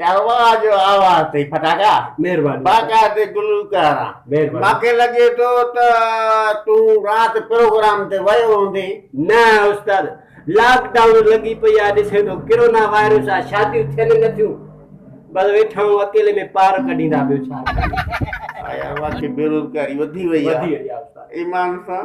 يا واهه جو آواز تي ڦٽاڪا مهرباني باقاعدي گلوڪار آن مهرباني ماکي لڳي ٿو ته تون رات پروگرام تي ويو هوندي. نه استاد لاڪ ڊائون لڳي پئي آ ڏسين ٿو ڪرونا وائرس آ شاديون ٿين نه ٿيون بس ويٺا آهيون اڪيلي ۾ پار ڪڍيندا ٻيو ڇا ڪريون. آيا واقعي بيروزگاري وڌي وئي آ ايمان سان.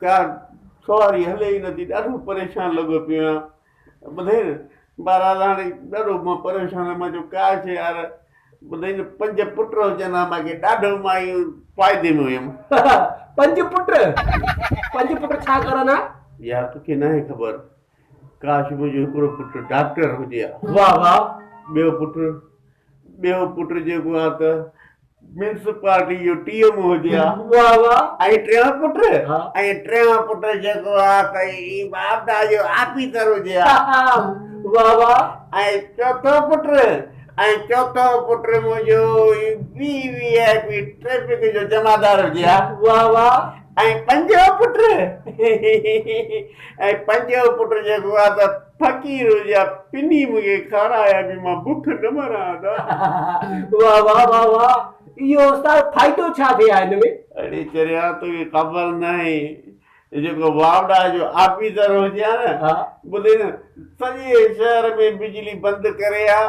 پيار سواري هلي ئي نٿي ڏاڍو پريشان لڳو پيو آهيان ٻڌئي نه بهرحال هاڻي ڏاڍو مان پريشان آهيان مان چيو ڪاش يار ٻڌئي نه پنج پٽ هجن ها مان کي ڏاڍو مان ايئن فائدي ۾ هيم پنج پٽ پنج پٽ ڇا ڪرن ها يار توکي ناهي خبر ڪاش منهنجو هڪڙو پٽ ڊاڪٽر هجي ها. واهه واهه ٻيو پٽ ٻيو پٽ جيڪو ها ته ميونسپالٽي جو ٽي ايم او هجي ها. واهه واهه ۽ ٽيون پٽ ۽ ٽيون پٽ جيڪو ها ته هي واپڊا جو آفيسر هجي ها. واهه واهه ۽ چوٿون پٽ ۽ چوٿون پٽ منهنجو هي V V I P traffic جو جمعدار هجي ها. واهه واهه. ۽ پنجو پٽ ۽ پنجو پٽ جيڪو آ ته فقير هجي آ پني مون کي کارايا جو مان بک نه مران ها ته. واه واه واه واه اهو استاد فائدو ڇا ٿئي ها ان ۾. اڙي چريا توکي خبر ناهي جيڪو واوڊا جو آفيسر هجي ها نه ٻڌي نه سڄي شهر ۾ بجلي بند ڪري ها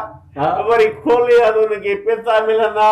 وري کولي ها ته ان کي پيسا ملندا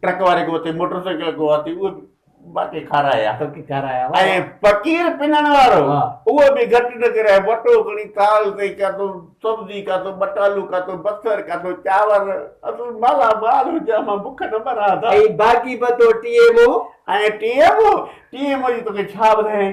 ٽرڪ واري کي اٿي موٽر سائيڪل کي اٿي اهو به باقي کارائي ها. ٽرڪ کارائي ها. ۽ فقير پنڻ وارو اهو به گهٽ نه ڪري ها. وٽو کڻي ٿال تي ڪاٿو سبزي ڪاٿو ٻٽالو ڪاٿو بصر ڪاٿو چانور اصل مالا مال هجان مان بک نه مران ها. ۽ باقي به تو T M O. ۽ T M O T M O جي توکي ڇا ٻڌايائين.